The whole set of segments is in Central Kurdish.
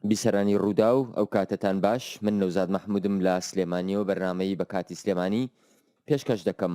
بیسەرانی ڕووداو ئەو کاتەتان باش من نەوزاد مححمودم لە سلێمانیەوە بەرنمەی بە کاتی سلێمانی پێشکەش دەکەم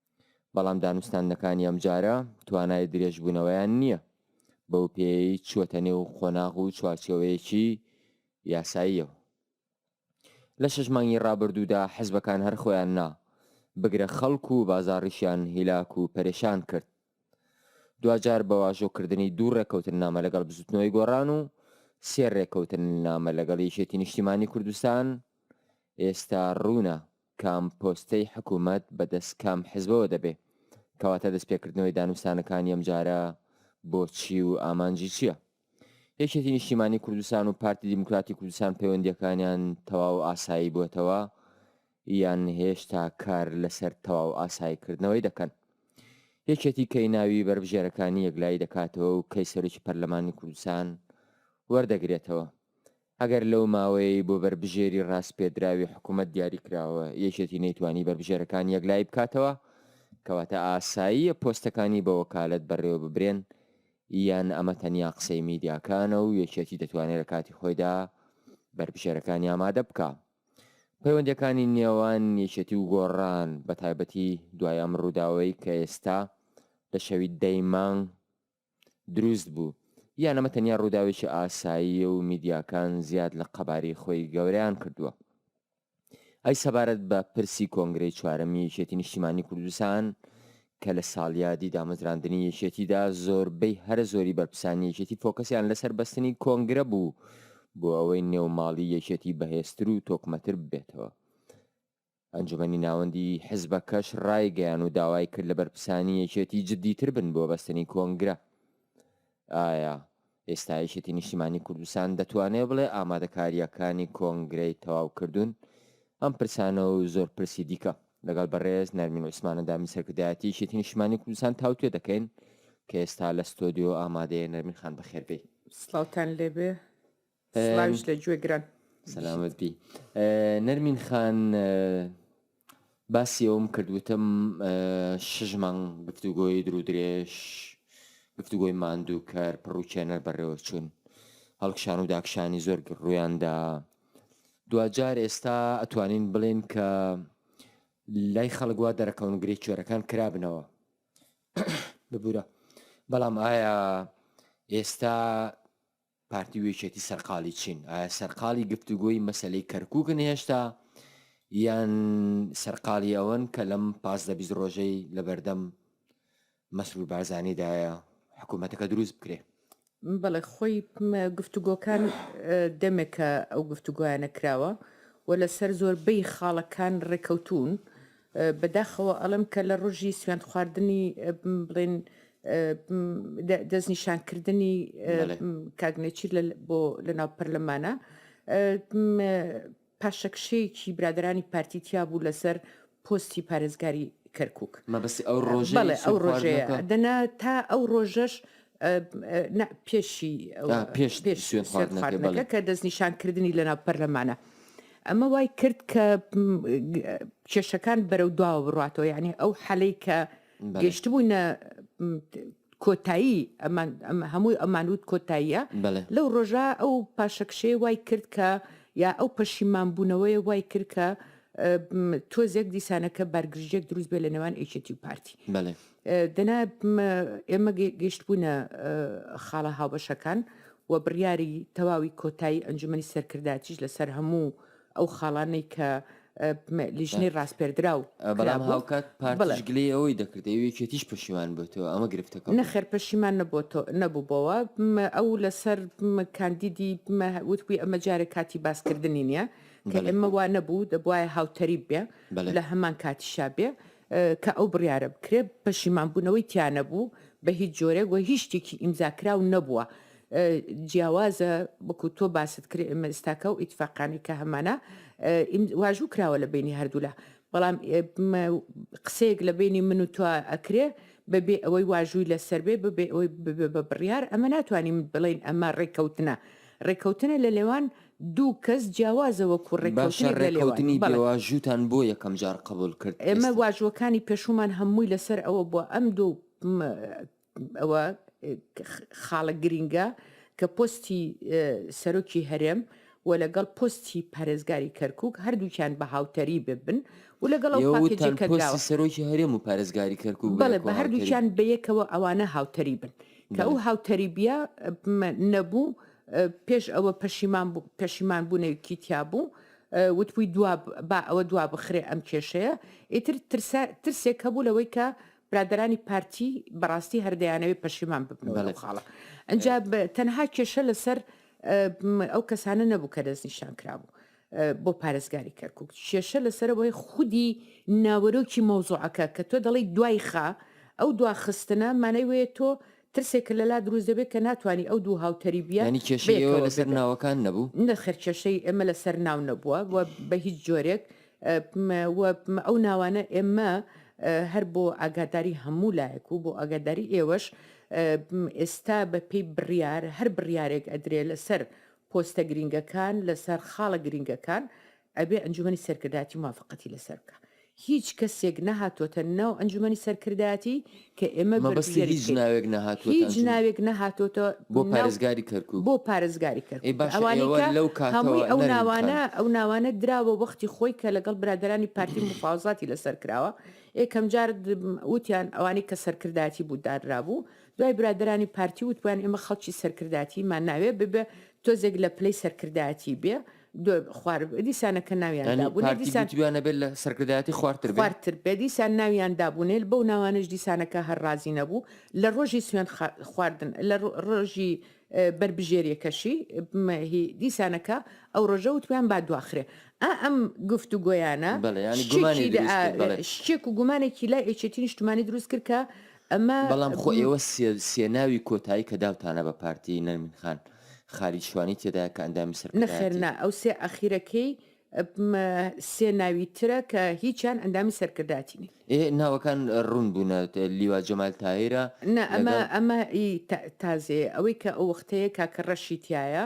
بەڵام دانوستاندنەکانی ئەمجارە توانای درێژبوونەوەیان نییە، بەو پێیەی چووەتە نێو قۆناغ و چوارچێوەیەکی یاساییەوە. لە شەش مانگی ڕابردوودا حزبەکان هەر خۆیان نا، بگرە خەڵک و بازاڕیشیان هیلاک و پەرێشان کرد. دواجار بە واژۆکردنی دوو ڕێککەوتننامە لەگەڵ بزوتنەوەی گۆڕان و سێ ڕێککەوتننامە لەگەڵ یەکێتی نیشتیمانی کوردستان ئێستا ڕوونە، کام پۆستەی حکومەت بە دەست کام حزبەوە دەبێ؟ کەواتە دەست پێکردنەوەی دانوستانەکانی ئەم جارە بۆ چی و ئامانجی چیە؟ یەکێتی نیشتیمانی کوردستان و پارتی دیموکراتی کوردستان پەیوەندیەکانیان تەواو ئاسایی بووەتەوە یان هێشتا کار لەسەر تەواو ئاسایی کردنەوەی دەکەن؟ یەکێتی کەی ناوی بەربژێرەکانی یەکلایی دەکاتەوە و کەی سەرۆکی پەرلەمانی کوردستان وەردەگرێتەوە؟ ئەگەر لەو ماوەیەی بۆ بەربژێری راسپێردراوی حکومەت دیاریکراوە یەکێتی نەیتوانی بەربژێرەکان یەکلایی بکاتەوە، کەواتە ئاساییە پۆستەکانی بە وەکالەت بەڕێوەببرێن، یان ئەمە تەنیا قسەی میدیاکانە و یەکێتی دەتوانێت لە کاتی خۆیدا بەربژێرەکانی ئامادە بکا. پەیوەندیەکانی نێوان یەکێتی و گۆڕان بەتایبەتی دوای ئەم رووداوەی کە ئێستا لە شەوی دە ی مانگ دروست بوو، یان ئەمە تەنیا ڕووداوێکی ئاساییە و میدیاکان زیاد لە قەبارەی خۆی گەورەیان کردووە؟ ئەی سەبارەت بە پرسی کۆنگرەی چوارەمی یەکێتی نیشتیمانی کوردستان کە لە ساڵیادی دامەزراندنی یەکێتیدا زۆربەی هەرە زۆری بەرپسانی یەکێتی فۆکەسیان لەسەر بەستنی کۆنگرە بوو بۆ ئەوەی نێوماڵی یەکێتی بەهێزتر و تۆکمەتر ببێتەوە ئەنجومەنی ناوەندی حزبەکەش رایگەیان و داوای کرد لە بەرپسانی یەکێتی جددیتر بن بۆ بەستنی کۆنگرە. ئایا ئێستا یەکێتی نیشتیمانی کوردستان دەتوانێت بڵێ ئامادەکارییەکانی کۆنگرەی تەواوکردوون؟ ئەم پرسانە و زۆر پرسی دیکە لەگەڵ بەڕێز نەرمین عوسمان ئەندامی سەرکردایەتی یەکێتی نیشتیمانی کوردستان تاوتوێ دەکەین کە ئێستا لە ستۆدیۆ ئامادەیە نەرمین خان بەخێربێی. سڵاوتان لێبێ. سڵاویش لە گوێ گران. سەلامەت بی نەرمین خان باسی ئەوم کرد وتم شش مانگ گفتوگۆی درو درێژ گفتوگۆی ماندووکەر پڕوچێنەر بەڕێوە چوون هەڵکشان و داکشانی زۆر ڕویاندا دوجار ئێستا ئەتوانین بڵێن کە لای خەڵگووا دەرەکەون گرێ کوێرەکان کرابنەوە ببورە بەڵام ئایا ئێستا پارتی و یەکێتی سەرقالی چین؟ ئایا سەرقالی گفتوگۆی مەسەلەی کەرکووکن هێشتا یان سەرقالی ئەوەن کە لەم پازدە بیست ڕۆژەی لەبەردەم مەسرور بارزانیدایە حکوومەتەکە دروست بکرێ؟ بەڵێ خۆی گفتوگۆکان دەمێکە ئەو گفتوگۆیانە کراوە و لەسەر زۆربەی خاڵەکان ڕێکەوتوون، بە داخەوە ئەڵێم کە لە ڕۆژی سوێند خواردنی بڵێن دەست نیشان کردنی کاک نێچیر بۆ لە ناو پەرلەمانە پاشەکشەیەکی برادرانی پارتی تیا بوو لەسەر پۆستی پارێزگاری کەرکک مەبەستی ئەو ڕۆژێ ئەو ڕۆژێ دەنا تا ئەو ڕۆژەش نا پێشی پێش سوێنخواردنەکە کە دەستنیشانکردنی لەناو پەرلەمانە. ئەمە وای کرد کە کێشەکان بەرەو دواوە بڕاتەوە یعنی ئەو حەلەی کە گەشتبووینە کۆتایی هەمووی ئەمانوت کۆتاییە لەو ڕۆژە ئەو پاشەکشەیە وای کرد کە یا ئەو پەشیمان بوونەوەی وای کرد کە تۆزێک دیسانەکە بەرگرژێک دروست بێ لە نێوان ئەیچێتی و پارتی دەنا ئێمە گەیشتبوونە خاڵە هاوبەشەکان و بڕیاری تەواوی کۆتایی ئەنجومی سەرکردایتیش لەسەر هەموو ئەو خاڵانەی کە لیژنەی ڕاستپێردرا و بەڵام هاوکات پارتیش گلەی ئەوەی دەکرد ئەو یەکێتیش پەشیمان بێتەوە ئەمە گرفتەکە نەخێر پەشیمان نەبووەوە نەبووبەوە ئەو لەسەر کاندیدی وتبووی ئەمە جارێک کاتی باسکردنی نییە کە ئێمە وا نەبوو دەبواە هاوتەریب بێ لە هەمان کاتیشا بێ کە ئەو بڕیارە بکرێ پەشیمان بوونەوەی تیا نەبوو بە هیچ جۆرێک وە هیچ شتێکی ئیمزا کراو نەبووە جیاوازە وەکو تۆ باست کرێ ئێمە ئێستاکە و ئیتفاقانی کە هەمانە واژوو کراوە لە بینی هەردوولا بەڵام قسەیەک لە بینی من و تۆ ئەکرێ بەبێ ئەوەی واژووی لەسەر بێ ببێ ئەوەی بە بڕیار ئەمە ناتوانین بڵین ئەمە ڕێککەوتنە ڕێکەوتنە لە لێوان دوو کەس جیاوازە وەکو باشە ڕێکەوتنێک لە لێوان ڕێکەوتنی بەڵێ. بێواژووتان بۆ یەکەم جار قەبووڵ کرد ئێمە ئێستا؟ واژووەکانی پێشوومان هەمووی لەسەر ئەوە بووە ئەم دوو م ئەوە خاڵە گرینگە کە پۆستی سەرۆکی هەرێم و لەگەڵ پۆستی پارێزگاری کەرکووک هەردووکیان بە هاوتەریب ببن و لەگەڵ ئەو ئێوە پاکێجەی وتتان کە پۆستی دراوە سەرۆکی هەرێم و پارێزگاری کەرکووک بەڵێ بەیەکەوە بە هاوتەریب هەردووکیان بەیەکەوە ئەوانە هاوتەریبن کە ئەو هاوتەریبیە نەبوو پێش ئەوە پەشیمان پەشیمان بوونەوکی تیا بوو وتبووی دوا با ئەوە دوا بخرێ ئەم کێشەیە ئیتر ترسێک هەبوو لەوەی کە برادرانی پارتی بەڕاستی هەردەیانەوەی پەشیمان ببنەوە خاڵە ئەجا تەنها کێشە لەسەر ئەو کەسانە نەبوو کە دەست نیشان کرابوو بۆ پارێزگاری کەرکوک کێشە لەسەرەوەی خودی ناوەرۆکی مەوزوعەکە کە تۆ دەڵی دوای خا ئەو دوا خستنە مانای وەیە تۆ ترسێکە لە لا دروست دەبێت کە ناتوانانی ئەو دوو هاوتەری بیە ینی کێشەی ئێوە لەسەر ناوەکان نەبوو نەخێر کێشەی ئێمە لەسەر ناو نەبووە و بە هیچ جۆرێک ئەو ناوانە ئێمە هەر بۆ ئاگاداری هەموو لایەک و بۆ ئاگاداری ئێوەش ئێستا بە پێی بڕیار هەر بڕیارێک ئەدرێ لەسەر پۆستە گرینگەکان لەسەر خاڵە گرینگەکان ئەبێ ئەنجومەنی سەرکردایەتی موافەقەتی لەسەر بکا هیچ کەسێک نەهاتۆتە ناو ئەنجومەنی سەرکردایەتی کە ئێمە بەرپرسیاری بکەین هیچ ناوێک نەهاتۆتە ئەنجومەنی هیچ ناوێک نەهاتۆتە بۆ پارێزگاری کەرکوک بۆ پارێزگاری کەرکوک ئەوانەی کە لەو کاتەوە هەمووی ئەو ناوانە ئەو ناوانە دراوە وەختی خۆی کە لەگەڵ برادەرانی پارتی موفاوەزاتی لەسەر کراوە ئێکەم جار وتیان ئەوانەی کە سەرکردایەتی بوو دانرابوو دوای برادەرانی پارتی وتبویان ئێمە خەڵکی سەرکرداتیمان ناوێ ببێ تۆزێک لە پلەی سەرکردایەتی بێ دو خوار دیسانە کە ناویان یانی دابوو پارتی دیسان گوتویان نەبێت لە سەرکردایەتی خوارتر بێ خوارتر بێ دیسان ناویان دابوونێل بەو ناوانەش دیسانەکە هەر ڕازی نەبوو لە ڕۆژی سوێن خا- خواردن لە ڕۆ- ڕۆژی اه، بەربژێریەکەشی م، هی دیسانەکە ئەو ڕۆژە وتبیان با دواخرێ ئا ئەم گفتوگۆیانە بەڵێ، یانی گومانی شتێکی دروست کرد، بەڵێ. شتێک و گومانێکی لای ئێچێتی نیشتمانی دروست کرد کە بەڵام خۆ ئێوە سێ ناوی کۆتایی کە داوتانە بە پارتی نەرمین خان خالید شوانی تێدایە کە ئەندامی سەرکردایەتی. نەخێر نا ئەو سێ ئاخیرەکەی سێ ناوی ترە کە هیچیان ئەندامی سەرکردایەتی نین. ئێ ناوەکان ڕوون بوونە لیوا جەمال تاهیرە لەگەڵ. نا ئەمە ئەمە ئی تازەیە ئەوەی کە ئەو وەختەیە کاکە ڕەشی تیایە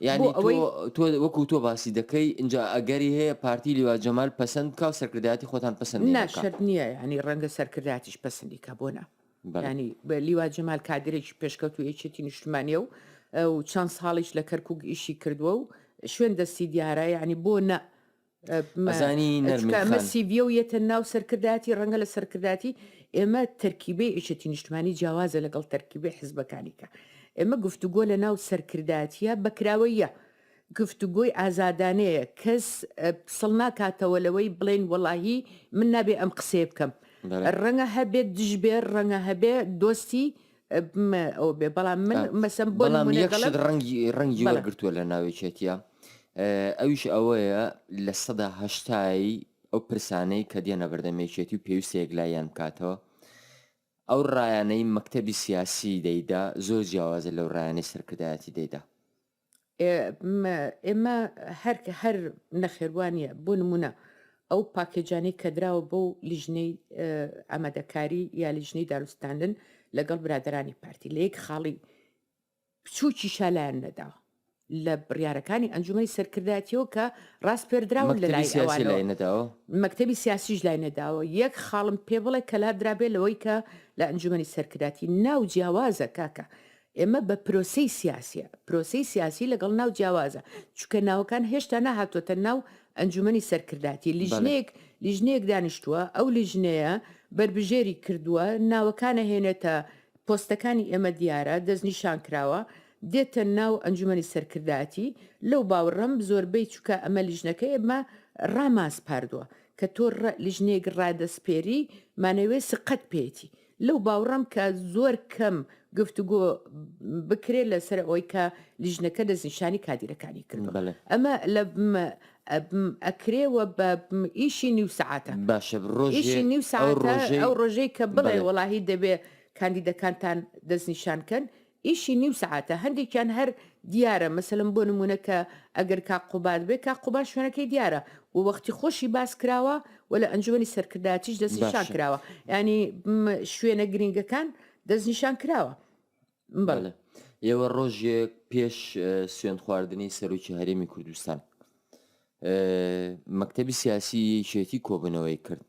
یانی تۆ تۆ وەکو تۆ باسی دەکەی ئینجا ئەگەری هەیە پارتی لیوا جەمال پەسەند بکا و سەرکردایەتی خۆتان پەسەند نەکا؟ نا شەرت نییە یانی ڕەنگە سەرکردایەتیش پەسەندی کا بۆ نا یانی بە لیوا جەمال کادرێکی پێشکەوتوو یەکێتی نیشتمانیە و و چەند ساڵیش لە کەرکووک ئیشی کردووە و شوێن دەستی دیارە یانی بۆ نا سیڤیە و یەتە ناو سەرکردایەتی ڕەنگە لە سەرکردایەتی ئێمە تەرکیبی ئیشەتی نیشتمانی جیاوازە لەگەڵ تەرکیبی حزبەکانیکە ئێمە گفتوگۆ لە ناو سەرکردایەتە بەکراوەیە گفتوگۆی ئازادانەیە کەس سڵ ناکاتەوە لەوەی بڵێن وەڵاهی من نابێ ئەم قسەیە بکەم ڕەنگە هەبێت دژبێ ڕەنگە هەبێ دۆستی ئەوبێ بەڵام من مەسم بۆ یەکشت ڕەنگی ڕەنگی وەرگتووە لە ناوێکێتە ئەویش ئەوەیە لە سەدا هەشتایی ئەو پرسانەی کە دێنە بەردەمێکێتی و پێویستە یەکلایەن بکاتەوە ئەو ڕایانەی مەکتتەبی سیاسی دەیدا زۆر جیاوازە لەو ڕایانەی سەرکردایەتی دەیدا ئێمە هەر هەر نەخێر وا نییە بۆ نمونە ئەو پاکێجانەی کە دراوە بۆ لیژنەی ئامادەکاری یا لیژنەی داروستاندن لەگەڵ برادرانی پارتی لە یەک خاڵی بچووکی شالایان نەداوە لە بڕیارەکانی ئەنجومی سەرکردایەتیەوە کە ڕاست پێدراون لە لای سیاسی لای نەداوە مەکتتەبی سیاسیش لای نەداوە یەک خاڵم پێ بڵێ کەلا درابێ لەوەی کە لە ئەنجومی سەرکراتی ناو جیاوازە کاکە ئێمە بە پرۆسەی سیاسیە. پرۆسەی سیاسی لەگەڵ ناو جیاوازە، چونکە ناوەکان هێشتا نەهاتووەتە ناو ئەنجومەنی سەرکرداتی، لیژنەیەک لیژنەیەک دانیشتووە، ئەو لیژنەیە بەربژێری کردووە، ناوەکان ئەهێنێتە، پۆستەکانی ئێمە دیارە، دەستنیشان کراوە، دێتە ناو ئەنجومەنی سەرکرداتی، لەو باوڕەم زۆربەی چونکە ئەمە لیژنەکە ئێمە ڕامانسپاردووە، کە تۆ لیژنەیەک ڕادەسپێری مانەوەی سقەت پێیەتی. لەو باوڕەم کە زۆر کەم گفتوگۆ بکرێت لە سەر ئەوەی کە لیژنەکە دەستنیشانی کادیرەکانی کرد ئەمە لە ئەکرێ و بە ئیشی نیو سەعاتە باشە ڕۆژی نیو ساعت ئەو ڕۆژەی کە بڵێ وەڵاهی دەبێ کاندیدەکانتان دەستنیشان کەن ئیشی نیو سەعاتە هەندێکیان هەر دیارە مەسەلەن بۆ نمونە کە ئەگەر کاک قوباد بێ کاک قوباد شوێنەکەی دیارە و وەختی خۆشی باس کراوە و لە ئەنجومەنی سەرکردایەتیش دەستی شان کراوە ینی شوێنە گرنگەکان دەستنیشان کراوە بەڵێ ئێوە ڕۆژێک پێش سوێن خواردنی سەرۆکی هەرێمی کوردستان مەکتەبی سیاسی یەکێتی کۆبنەوەی کرد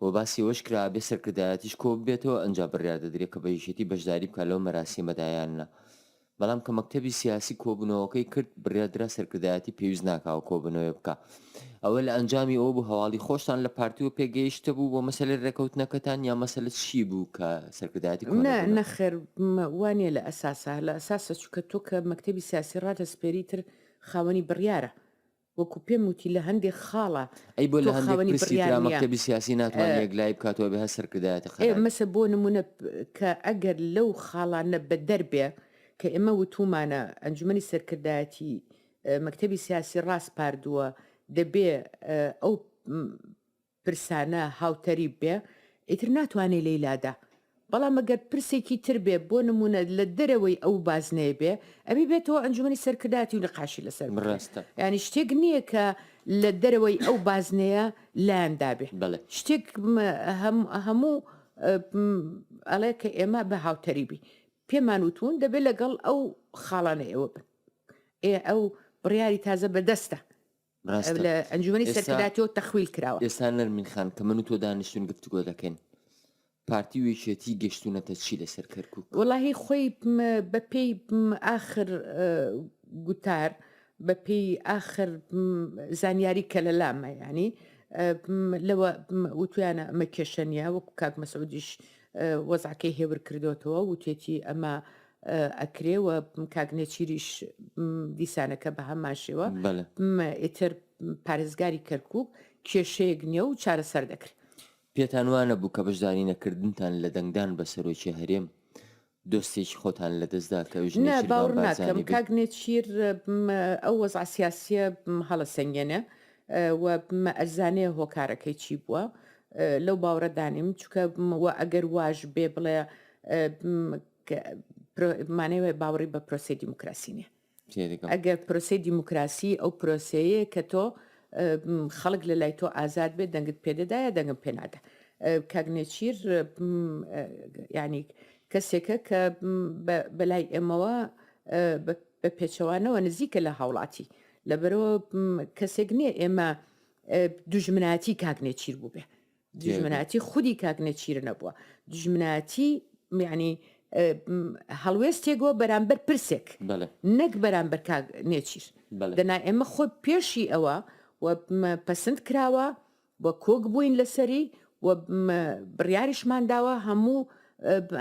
و باسی ئەوەش کرا بێ سەرکردایەتیش کۆ ببێتەوە ئەنجا بڕیار دەدرێت کە بە یەکێتی بەشداری بکە لەو مەراسیمەدایان نە بەڵام کە مەکتەبی سیاسی کۆبنەوەکەی کرد بڕیادرا سەرکردایەتی پێویست ناکاوە کۆبنەوەی بکە ئەوە لە ئەنجامی ئەو بوو هەواڵی خۆشتان لە پارتیوە پێگەیشتە بوو بۆ مەسەلە ڕێکەوتنەکەتان یا مەسەلە چی بوو کە سەرکردایەتی نەخێر وانە لە ئەساسە لە ئەساسە چکە تۆ کە مەکتەبی سیاسی ڕادەسپێری تر خاوەنی بڕیارە وەکو پێم وتی لە هەندێک خاڵە ئەی بۆ لە هەندێک پرسی ترا مەکتەبی سیاسی ناتوانێ یەکلایی بکات و ئەبێ هەر سەرکردایەتی قەرار بدات؟ مەسە بۆ نمونە کە ئەگەر لەو خاڵانە بەدەربێ کە ئێمە وتومانە ئەنجومەنی سەرکردایەتی مەکتەبی سیاسی ڕاسپاردووە دەبێ ئەو پرسانە هاوتەریب بێ ئیتر ناتوانێ لێی لادا بەڵام ئەگەر پرسێکی تر بێ بۆ نموونە لە دەرەوەی ئەو بازنەیە بێ ئەبی بێتەوە ئەنجومەنی سەرکردایەتی و نیقاشی لەسەر بکرێ ڕاستە یانی شتێک نییە کە لە دەرەوەی ئەو بازنەیە لایان دابێ بەڵێ شتێک م- هەم- هەموو ئە، م، ئەڵێ کە ئێمە بە هاوتەریبی پێمان وتوون دەبێ لەگەڵ ئەو خاڵانە ئێوە بن ئێ ئەو بڕیاری تازە بەدەستە ڕاستە لە ئەنجومەنی ئێستا- سەرکردایەتیەوە تەخویل کراوە ئێستا نەرمین خان کە من و تۆ دانیشتوین گفتگۆ دەکەین پارتی و یەکێتی گەشتونەتە چی لەسەر کەرکوک وەڵاهی خۆی م، بە پێی م، ئاخر ئە، گوتار بە پێی ئاخر م، زانیاری کە لە لامە یانی ئە، م، لەوە م، وتویانە ئەمە کێشە نیە وەکو کاک مەسعودیش ئە، وەزعەکەی هێور کردۆتەوە وتێتی ئەمە ئەکرێ و کاک نێچیریش دیسانەکە بە هەمان شێوە بەلێ م، ئیتر پارێزگاری کەرکووک کێشەیەک نییە و چارەسەر دەکرێت. پێتان وا نەبوو کە بەشداری نەکردنتان لە دەنگدان بە سەرۆکی هەرێم، دۆستێکی خۆتان لە دەست دا کە ئەویش نا، نێچیرڤان باوەڕ ناکەم بارزانی بێ؟ کاک نێچیر م، ئەو وەزعە سیاسییە م، هەڵەسەنگێنێ و م، ئەرزانێ هۆکارەکەی چی بووە. لەو باوەڕە دا نیم، چونکە م، و ئەگەر واش بێ بڵێ م، کە پرۆ مانای وایە باوەڕی بە پرۆسەی دیموکراسی نییە تێدەگەم ئەگەر پرۆسەی دیموکراسی ئەو پرۆسەیە کە تۆ ئم، خەڵک لە لای تۆ ئازاد بێت دەنگت پێدەدایە دەنگم پێنادا کاگنێچیر ینی کەسێکە کە م، بە- بەلای ئێمەوە ئە، بە- بە پێچەوانەوە نزیکە لە هاوڵاتی لەبەرەوە م، کەسێک نییە ئێمە ئە، دوژمنایەتی کاگنێچیر بووبێ دژمنایەتی خودی کاک نێچیر نەبووە دژمنایەتی میانی هەڵوێستێکەوە بەرامبەر پرسێک نەک بەرامبەر کاک نێچیر دەنا ئێمە خۆ پێشی ئەوە و پەسند کراوە و کۆک بووین لەسەری و بڕیاریشمان داوە هەموو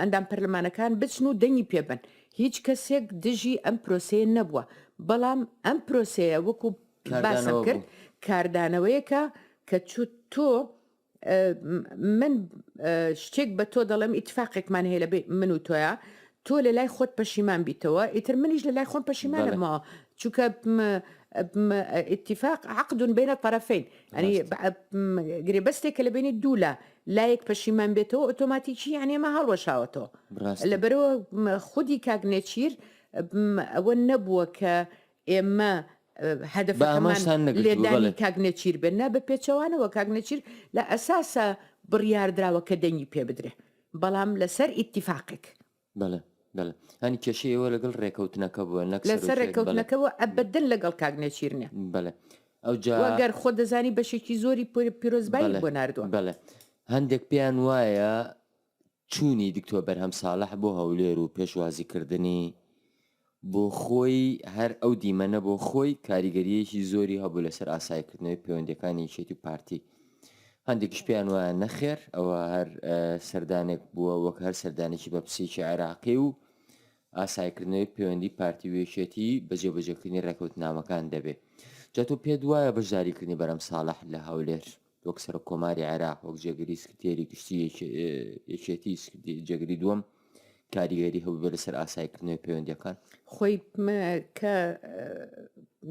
ئەندام پەرلەمانەکان بچن و دەنگی پێبن هیچ کەسێک دژی ئەم پرۆسەیە نەبووە بەڵام ئەم پرۆسەیە وەکو باسم کرد کاردانەوەیەکە کە چ تۆ من شتێک بە تۆ دەڵێم ئیتفاقێکمان هەیە لە من و تۆە تۆ لە لای خۆت پەشیمان بیتەوە ئیتر منیش لە لای خۆم پەشیمانەمەوە چونکە اتفاق عقدون بینە طرفین ئەنی گرێبەستێک کە لە بینی دوو لە لایەک پەشیمان بێتەوە ئۆتۆماتیکی یانێمە هەڵوەشاوەتەوە لەبەرەوە خودی کاک نێچیر ئەوە نەبووە کە ئێمە هەدەفەکەمان لێدانی کاک نێچیر بێت، نا بە پێچەوانەوە کاک نێچیر لە ئەساسا بڕیار دراوە کە دەنگی پێ بدرێ بەڵام لە سەر ئیتیفاقێک. بەڵێ بەڵێ هەنی کێشەی ئێوە لەگەڵ ڕێکەوتنەکە بووە نەک سەرۆکێک. لەسەر ڕێکەوتنەکە بووە ئەبەدەن لەگەڵ کاک نێچیر نیە. بەڵێ ئەوجا. وە گەر خۆ دەزانی بەشێکی زۆری پیرۆزبایی بۆ ناردووە. بەڵێ هەندێک پێیان وایە چوونی دکتۆر بەرهەم ساڵح بۆ هەولێر و پێشوازیکردنی بۆ خۆی، هەر ئەو دیمەنە بۆ خۆی کاریگەرییەکی زۆری هەبوو لەسەر ئاسایکردنەوەی پەیوەندییەکانی یەکێتی و پارتی. هەندێکیش پێیان وایە نەخێر ئەوە هەر سەردانێک بووە وەک هەر سەردانێکی بەپسێکی عێراقی و ئاسایکردنەوەی پەیوەندی پارتی و یەکێتی بە جێبەجێکردنی ڕێکەوتنامەکان دەبێ. جا تۆ پێت وایە بەشداریکردنی بەرەم ساڵح لە هەولێر وەک سەرۆک کۆماری عێراق وەک جێگری سکرتێری گشتی یەکێتی جێگری دووەم کاریگەری هەبوو بێ لەسەر ئاسایکردنەوەی پەیوەندەکان خۆی کە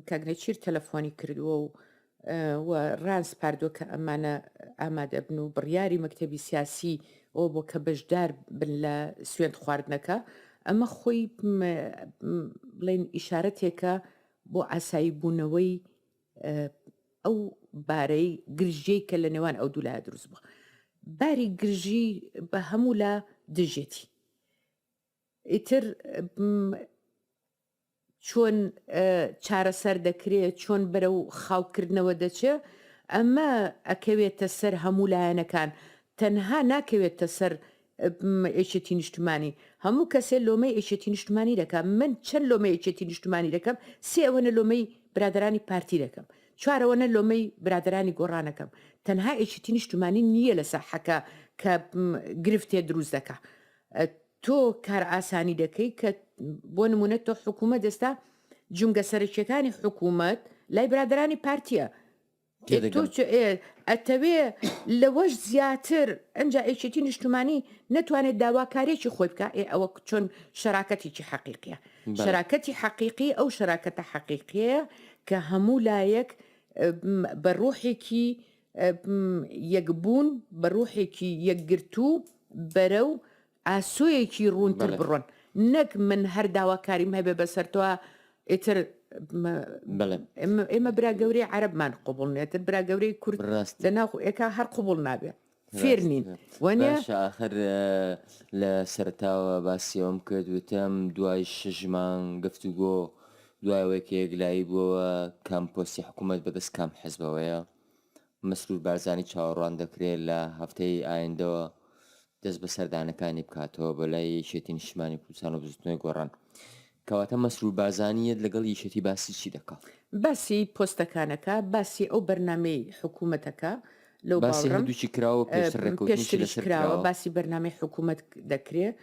کاگنەچیر تەلەفۆنی کردووە و و ڕاز پاردوە کە ئەمانە ئامادەبن و بڕیاری مەکتتەبی سیاسی ئەو بۆ کە بەشدار بن لە سوێن خواردنەکە ئەمە خۆی بڵێن ئیشارەتێکە بۆ ئاسایی بوونەوەی ئەو بارەی گرژیەی کە لە نێوان ئەو دوولای دروست بوو باری گرژی بە هەموو لا دژێتی ئیتر چۆن چارەسەر دەکرێت چۆن بەرە و خاوکردنەوە دەچێ ئەمە ئەکەوێتە سەر هەموو لایەنەکان تەنها ناکەوێتە سەر یەکێتی نیشتمانی هەموو کەسێ لۆمەی یەکێتی نیشتمانی دەکا من چەن لۆمەی یەکێتی نیشتمانی دەکەم سێ ئەوەنە لۆمەی برادەرانی پارتی دەکەم چوار ئەوەنە لۆمەی برادەرانی گۆڕانەکەم تەنها یەکێتی نیشتمانی نییە لە ساحەکە کە گرفتێ دروست دەکا تۆ کار ئاسانی دەکەی کە بۆ نمونە تۆ حکوومەت ئێستا جونگە سەرکیەکانی حکوومەت لای برادرانی پارتیە تێدەگەم. تۆ چ ئێ ئەتەوێ لەوەش زیاتر ئەنجا ئێکێتی نیشتمانی نەتوانێت داواکارێکی خۆی بکە ئێ ئەوە چۆن شەراکەتێکی حەقیقیە بەڵێ. شەراکەتی حەقیقی ئەو شەراکەتە حەقیقیەیە کە هەموو لایەک ئە، م، بە ڕوحێکی ئە، م، یەکبوون بە ڕوحێکی یەکگرتوو بەرەو ئاسۆیەکی ڕوونتر بڕۆن نەک من هەر داواکاریم هەبێ بەسەرتەوە ئیتر ئێمە برا گەورەی عربمان قوبڵ نێتر برا گەورەی کورد ڕاست لە ناو ئێکا هەر قوبڵ نابێ فێر نین وەنێ آخر لە سەرتاوە باسیەوەم کرد وتم دوای شژمان گفتوگۆ دوایەوەی کە یەکلایی بووەوە کام پۆستی حکوومەت بەدەست کام حەزبەوەیە مەسرور بارزانی چاوەڕوان دەکرێت لە هەفتەی ئایندەوە دەست بە سەردانەکانی بکاتەوە بە لای یەکێتی نیشتمانی کوردستان و بزوتنەوەی گۆڕان کەواتە مەسرور بازانیت لەگەڵ یەکێتی باسی چی دەکات باسی پۆستەکانەکە باسی ئەو بەرنمەی حکوومەتەکە لەو باسی هەردووچی کراوە پێشتر ڕێکوتنیش لەسەر کراوە باسی بەرنمەی حکوومەت دەکرێت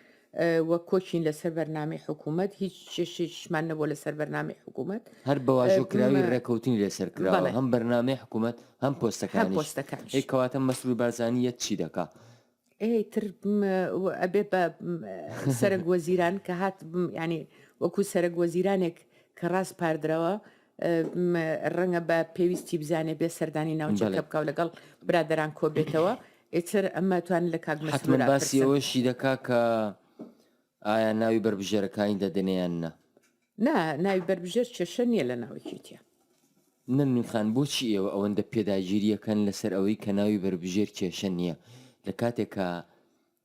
وەک کۆچین لەسەر بەرنامەی حکوومەت هیچ چێشێکیشمان نەبووە لەسەر بەرنامەی حکوومەت. هەر بە واژۆکراوی ڕێکەوتنی لەسەر کراوە، بەڵێ. هەم بەرنامەی حکوومەت، هەم هەم پۆستەکانیش. پۆستەکانیش. ئەی کەواتە مەسرور بارزانی یەت چی دەکا؟ ئێ تر م و ئەبێ بە م سەرەک وەزیران کە هات م یانی وەکوو سەرەک وەزیرانێک کە ڕاسپاردراوە، ڕەنگە بە پێویستی بزانێ بێ سەردانی ناوچەکە بکە و لەگەڵ برادەران کۆبێتەوە ئێتر ئەمە توان لە کاک مەسرور باسی ئەوەشی دەکا کە ئایا ناوی بەربژێرەکانی دەدەنێیان نا نا ناوی بەربژێر کێشە نییە لە ناوەکێتە نەمنی خان بۆچی ئێوە ئەوەندە پێداگیریەکەن لەسەر ئەوەی کە ناوی بەربژێر کێشە نییە لە کاتێکە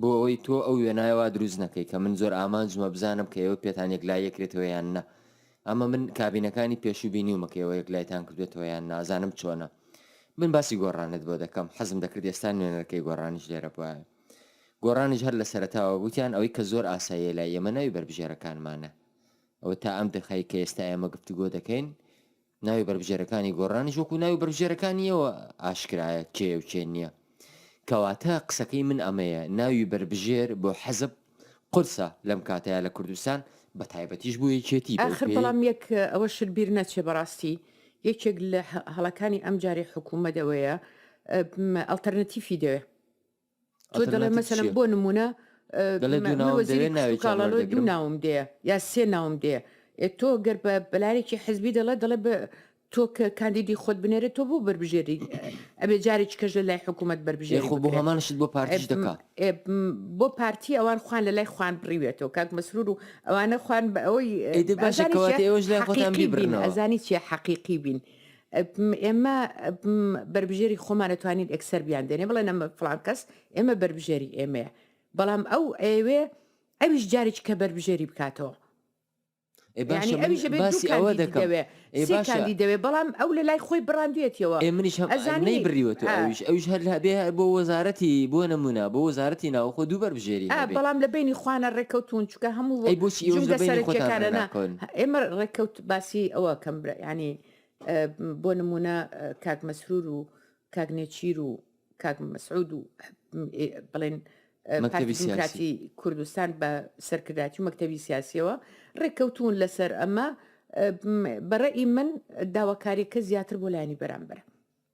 بۆ ئەوەی تۆ ئەو وێنایە وا دروست نەکەی کە من زۆر ئامانجمە بزانم کە ئێوە پێتان یەکلایی ئەکرێتەوە یان نا. ئەمە من کابینەکانی پێشوو بینیومە کە ئێوە یەکلایتان کردووەتەوە یان نا، ئەزانم چۆنە. من باسی گۆڕانت بۆ دەکەم، حەزم دەکرد ئێستا نوێنەرەکەی گۆڕانیش لێرە بوایە. گۆڕانیش هەر لە سەرەتاوە گوتیان ئەوەی کە زۆر ئاساییە لای ئێمە ناوی بەربژێرەکانمانە. ئەوە تا ئەم دەقەی کە ئێستا ئێمە گفتوگۆ دەکەین، ناوی بەربژێرەکانی گۆڕانیش وەکو ناوی بەربژێرەکانیەوە ئاشکرایە کێ و کێ نییە. کەواتە قسەکەی من ئەمەیە ناوی بەربژێر بۆ حەزب قورسە لەم کاتەیا لە کوردستان بە تایبەتیش بۆ یەکێتی بەو ئاخر پێی بەڵام یەک ئەوە شت بیر نەچێ بەڕاستی یەکێک لە هە هەڵەکانی ئەمجارەی حکوومەت ئەوەیە ئەم ئەڵتەرنەتیفی دەوێ. تۆ دەڵێ ئەتەرناتیڤ مەسەلەن چییە؟ بۆ نمونە دەڵێ دوو ناوم وەزیری دەوێ، کشت و ناوێکیان کاڵە ڵۆ دوو وەردەگرم. ناوم دێ یا سێ ناوم دێ ئێ تۆ گەر بە بەلایەکی حزبی دەڵێ دەڵێ بە تۆ کە کاندیدی خۆت بنێرێ تۆ بۆ بەربژێری ئەبێ جارێکی کەش لە لای حکوومەت بەربژێری یاخۆ بۆ بکرێ. هەمان شت بۆ پارتیش ئێ، دەکا ئێ، بۆ پارتی ئەوان خوان لە لای خوان بڕیوێتەوە کاک مەسرور و ئەوانە خوان بە ئەوەی ئیدی باشە ئەزانی کەواتە چیە ئێوەش لای خۆتان حەقیقی بین بیبڕنەوە. ئەزانی چیە حەقیقی بین ئێمە بەربژێری خۆمانە توانین ئەکسەر بیان دێنێ بڵێ نەمە فلان کەس ئێمە بەربژێری ئێمەیە بەڵام ئەو ئەوێ ئەویش جارێک کە بەربژێری بکاتەوە ئەوە دەکەوێ باشی دەوێ بەڵام ئەو لە لای خۆی بڕاندوێتەوە ئێ منیش ئەزانی بریوە تو ئەویش ئەوش هەر هەبێ بۆ وەزارەتی بۆ نمونە بۆ وەزارەتی ناوخۆ دوو بەربژێری بەڵام لە بینی خوانە ڕێککەوتون چکە هەموو بۆچی ئێمە ڕێککەوت باسی ئەوە کەم ینی بۆ نمونە کاک مەسرور و کاک نێچیر و کاک مەسعود و بڵێن پارتی کوردستان بە سەرکرداتی و مەکتتەبی سیاسیەوە ڕێککەوتون لەسەر ئەمە بەڕێ ئی من داواکاریەکە زیاتر بۆ لایانی بەرامبەر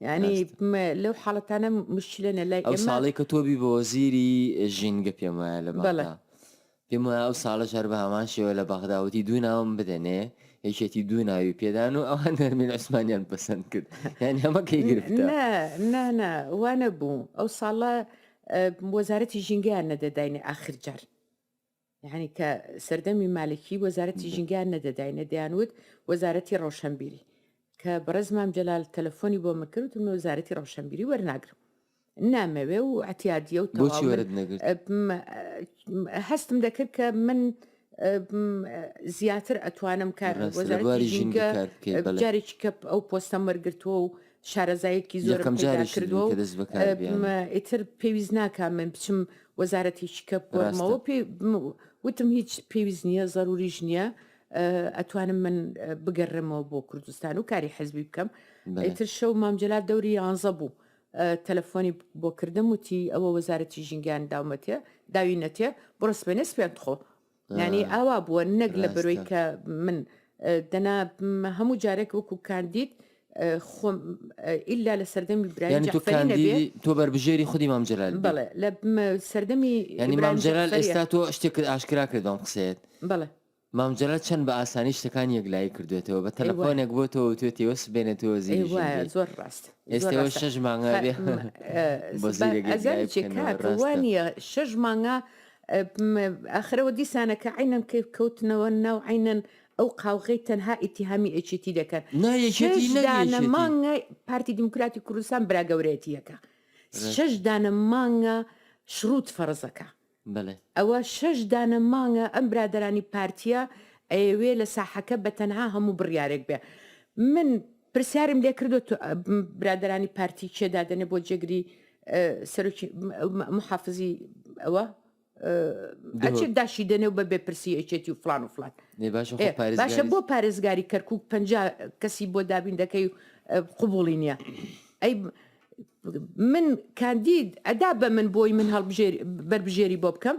یانی لەو حاڵەتانە مشکلە نە لای ئێمە. ئەو ساڵەی کە تۆ بی بە وەزیری ژینگە پێم وایە لە بەغدا. پێم وایە ئەو ساڵەش هەر بە هەمان شێوە لە بەغدا وتی دوو ناوم بدەنێ یەکێتی دوو ناوی پێدان و ئەوان نەرمین عوسمانیان پەسەند کرد یان هەمەکەی گرفت نانا وانە بوو ئەو ساڵە وەزارەتی ژینگەیان نەدەداینێ ئاخر جار. یەعنی کە سەردەمی مالکی وەزارەتی ژینگەیان نەدەداینە دەیانوت وەزارەتی ڕەوشەنبیری کە بەڕێز مام جەلال تەلەفۆنی بۆ من کرد وتم من وەزارەتی ڕەوشەنبیری وەرناگرم نامەوێ و عەتیادیە و بۆچی تەواو وەرت نەگرت من ئە، هەستم دەکرد کە من ئە، م، زیاتر ئەتوانم کار ڕاستە لە وەزارەتی بواری ژینگە ژینگە کار بکەیت بەڵێ جارێکی کە ئەو پۆستەم وەرگرتووە و شارەزایەکی زۆرم یەکەم پەیدا جاریشت بوو کردووە کە و دەست بەکار م، بێنم. ئیتر پێویست ناکا من بچم وەزارەتی شیکە بگۆڕمەوە، ڕاستە. پێ م، وتم هیچ پێویست نییە، زەرووریش نییە، ئەتوانم من بگەررێمەوە بۆ کوردستان و کاری حزبی بکەم. بەلێ. ئیتر شەو مام جەلال دەوری یانزە بوو، تەلەفۆنی بۆ کردم، وتی ئەوە وەزارەتی ژینگەیان داومەتێ، داوینەتێ، بڕۆ سبەینێ سپێن بخۆ. یانی ئاوا بووە نەک لە بەرۆی کە من دەنا هەموو جارێک وەکو کاندید خۆم ئللا لە سەردەمی برایانی تۆ بەربژێری خودی مامجلال بڵێ لە سەردەمی ینی مامجلال ئێستا تۆ شتێکرد ئاشکرا کردم قسەیت بڵێ مامجلە چەند بە ئاسانی شتەکان یەکلایی کردوێتەوە بە تەلەفۆنێک بۆ تۆ توێت تێوە سبێنێت تۆ زیری زۆر ڕاست ئێستەوە شەش مانگا بێ بەزیرێکوانە شەش مانگا ئاخرەوە دیسانە کە عەینەن کەیف کەوتنەوە ناو عەینەن ئەو قاوغەی تەنها ئیتیهامی ئێکێتی دەکەن نا یەکێتی شەش نەک دانە یەکێتی مانگە پارتی دیموکراتی کوردستان برا گەورەیەتییەکە ڕێک شەش دانە مانگە شڕوت فەڕزەکە بەلێ ئەوە شەش دانە مانگە ئەم برادەرانی پارتییە ئەیەوێ لە ساحەکە بە تەنها هەموو بڕیارێک بێ من پرسیارم لێ کردو تو برادرانی پارتی کێ دادەنێ بۆ جێگری سەرۆکی محافزی ئەوە ئەچێت داشی دێنێ و بە بێپرسی ئەچێتی و فلان و فلان باشە بۆ پارێزگاری کەرکک پ کەسی بۆ دابین دەکەی و قوبولی نییە ئەی من کاندید ئەدا بە من بۆی من هەڵبژێر بەربژێری بۆ بکەم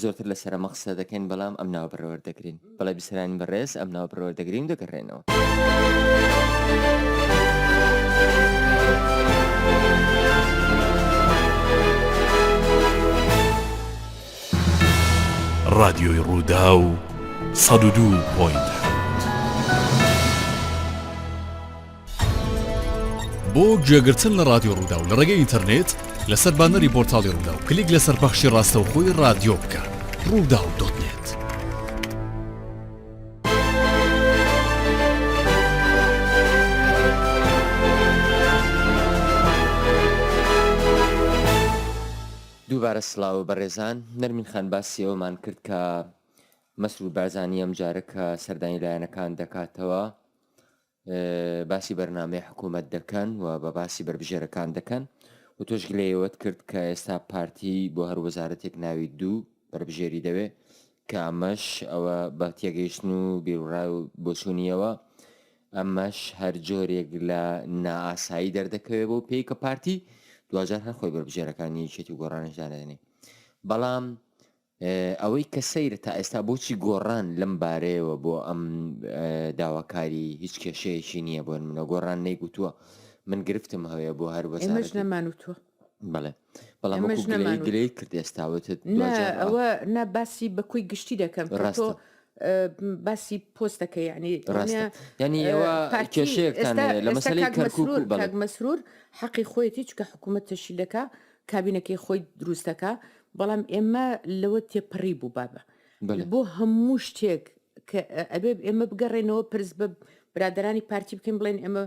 زۆرتر لە سەرەمە قسە دەکەین بەڵام ئەم ناوە بەڕێوەر دەگرین بەڵێ بیسەرانی بەڕێز ئەم ناوە بەڕێوەر دەگرین و دەگەڕێنەوە. ڕادیۆی ڕووداو سەد و دوو پۆینت حەوت. بۆ گوێگرتن لە ڕادیۆ ڕووداو لە ڕێگەی ئینتەرنێت لەسەر بانەری بۆرتاڵی ڕوودا و کلیک لەسەر پەخشی ڕاستەوخۆی ڕادیۆ بکە ڕوودا و دۆتنێت. دووبارە سلااو بەڕێزان نەرمین خان باسی ئەومان کرد کە مەسرور بارزانانی ئەم جارە کە سەردانی لایەنەکان دەکاتەوە باسی بەرنامەی حکوومەت دەکەن و بە باسی بەربژێرەکان دەکەن و تۆش گلەیەوەت کرد کە ئێستا پارتی بۆ هەر وەزارەتێک ناوی دوو بەربژێری دەوێ کە ئەمەش ئەوە بە تێگەیشتن و بیرڕای و بۆچوونیەوە ئەمەش هەر جۆرێک لە نائاسایی دەردەکەوێت بۆ پێی کە پارتی دوجار هەر خۆی بەربژێرەکانی یەکێتی گۆڕانش دانێنێ بەڵام ئەوەی کە سەیرە تا ئێستا بۆچی گۆڕان لەم بارەیەوە بۆ ئەم داواکاری هیچ کێشەیەکی نییە بۆن منە گۆڕان نەیگوتووە من گرفتم هەوێ بۆ هەر وەزارەت نەمانوتوە بڵێ بەڵام گلەی کرد ئێستاوت ئەوە نا باسی بەکوی گشتی دەکەم ڕاستۆ باسی پۆستەکە یعنی ینی ئەوە کێشەیەک لە مەسەری کەرکک مەسرور حەقی خۆیەتی چکە حکوومەت تەشی دەکا کابینەکەی خۆی دروستەکا بەڵام ئێمە لەوە تێپەڕی بوو بابە بۆ هەموو شتێک کە ئەبێ ئێمە بگەڕێنەوە پرس بە برادرانی پارتی بکەین بڵێن ئێمە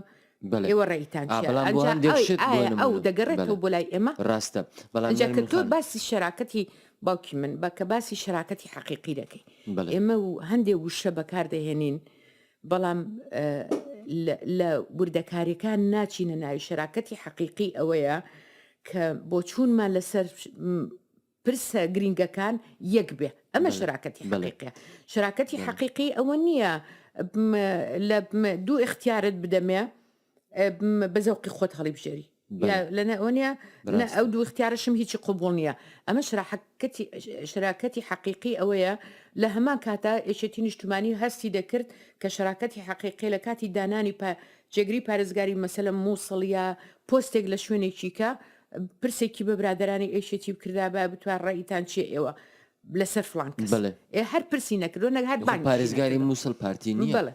ئێوە ڕێیتان ئەو دەگەڕێتەوە بۆ لای ئێمە ڕاستە بەڵام تۆ باسی شراکەتی باوکی من بە کە باسی شراکەتی حەقیقی دەکەی ئێمە و هەندێک وشە بەکاردەهێنین بەڵام لە وردەکاریەکان ناچینە ناوی شەراکەتی حەقیقی ئەوەیە کە بۆ چوونمان لەسەر پرسە گرنگەکان یەک بێ ئەمە شراکەتی بەڵێکە شراکەتی حەقیقی ئەوە نییە لە دوو اختیارت بدەمێ بەزەوقی خۆت هەڵی بژێری لەنەوەنیە ئەو دوو اختیارشم هیچی قوبول نییە ئەمە شراحەکەتی شراکەتی حەقیقی ئەوەیە لە هەمان کاتا ئێشێتی نیشتمانی هەستی دەکرد کە شراکەتی حەقیقی لە کاتی دانانی پا جێگری پارێزگاری مەسەلە مووسڵە پۆستێک لە شوێنێکی کە پرسێکی بە برادرانی ئێشێتی بکردا بە بتوە ڕێیتان چیە ئێوە لەسەر فلان کەس هەر پرسی نەکردو نەک هەر پارێزگاری مووسڵ پارتی نیە بڵێ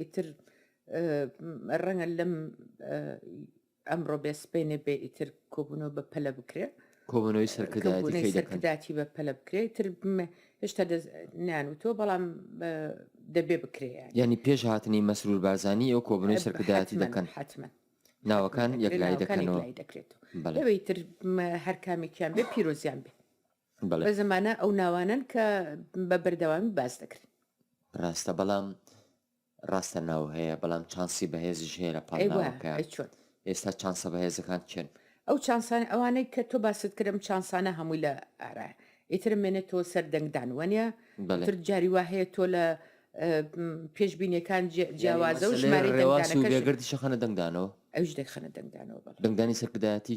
ئیتر ڕەنگە لەم ئەمڕۆ بێ سبەینێ بێ ئیتر کۆبوونەوە بە پەلە بکرێ کۆبوونەوەی سەرکردایەتی بە پەلە بکرێ تر هێشتا نان و تۆ بەڵام دەبێ بکرێ ینی پێش هاتنی مەسرور بارزانانی ئەو کۆبوونەوەی سەرکردایەتی دەکەن حتممە ناوەکان یەکلای دەکەنەوە دەکرێت لەوەی تر هەر کامێکیان بێ پیرۆزیان بێ بەڵێ. بە زمانە ئەو ناوانەن کە بە بەردەوامی باس دەکرێن. ڕاستە بەڵام ڕاستە ناو هەیە بەڵام چانسی بەهێزیش هەیە لە پاڵ ناوەکە چۆن ئێستا چانسە بەهێزەکان چێن ئەو چانسان ئەوانەی کە تۆ باست کرم چانسانە هەمووی لە ئارا ئیتر مێنێت تۆ سەر دەنگدان وەنە تر جاری وا هەیە تۆ لە پێشببینەکان جیاوازە و ژمارەگردی شەخەنە دەنگدانەوە ئەوش دەخەنە دەنگدانەوە دەنگدانی سەرکردایەتی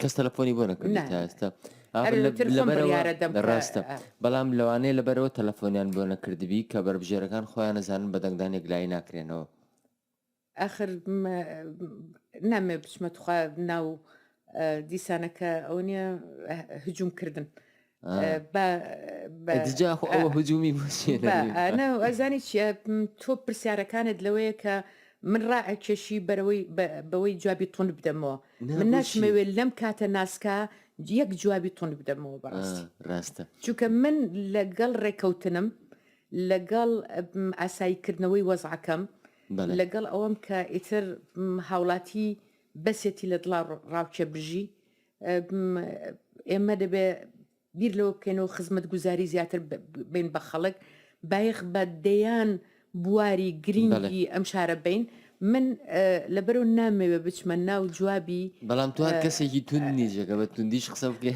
کەس تەلەفۆنی بۆ نەکردی تا ئێستا ڕاستە بەڵام لەوانەیە لەبەرەوە تەلەفۆنیان بۆ نەکردبی کە بەربژێرەکان خۆیان نەزانن بە دەنگدان یەکلایی ناکرێنەوە ئەخر نامێ بچمە توخوا ناو دیسانەکە ئەو نیە هجوومکردن هجومی ئەزانی چیە تۆ پرسیارەکانت لەوەیە کە من ڕائەکێشی بەرەوەی بەوەی جوابی تون بدەمەوە من ناشمەوێت لەم کاتە ناسکە یەک جوابی تون بدەمەوە بەڕاستی ڕاستە چونکە من لەگەڵ ڕێکەوتنم لەگەڵ ئاساییکردنەوەی وەزعەکەم لەگەڵ ئەوەم کە ئیتر هاوڵاتی بەسێتی لە دڵا ڕاوچە بژی ئێمە دەبێ بیر لەوە بکەین و خزمەت گوزاری زیاتر بین بە خەڵک بایخ بە دەیان بواری گرنگی ئەم شارە بین من لەبەرو نامەوێ بچمە ناو جوابی بەڵام توار کەسێکی تون نیجێکە بە توندیش قسە بکە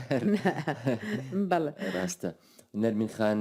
بەڵ ڕاستە نەرمین خان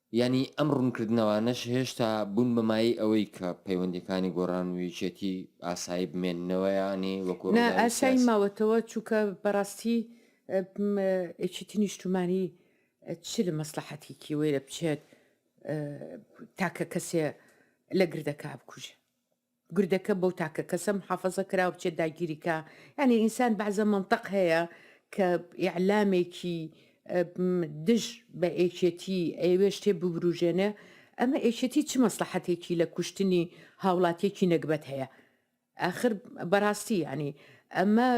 یانی ئەم ڕوونکردنەوانەش هێشتا بوون بە مایەی ئەوەی کە پەیوەندیەکانی گۆڕان و یەکێتی ئاسایی بمێننەوە یانی وەکو نا ڕووداوی ئاسایی سیاسی؟ ماوەتەوە چونکە بەڕاستی م یەکێتی نیشتمانی چ لە مەسڵەحەتێکی وەیرە بچێت تاکە کەسێ لە گردەکە بکوژێ؟ گردەکە بەو تاکە کەسە محافەزە کراوە بچێت داگیری کا یعنی ئینسان بەعزە مەنتەق هەیە کە ئیعلامێکی دژ بە ئێکێتی ئەوێ شتێ ببروژێنێ ئەمە ئێکێتی چ مەسلحەتێکی لە کوشتنی هاوڵاتێکی نەگبەت هەیە ئاخر بەڕاستی ینی ئەمە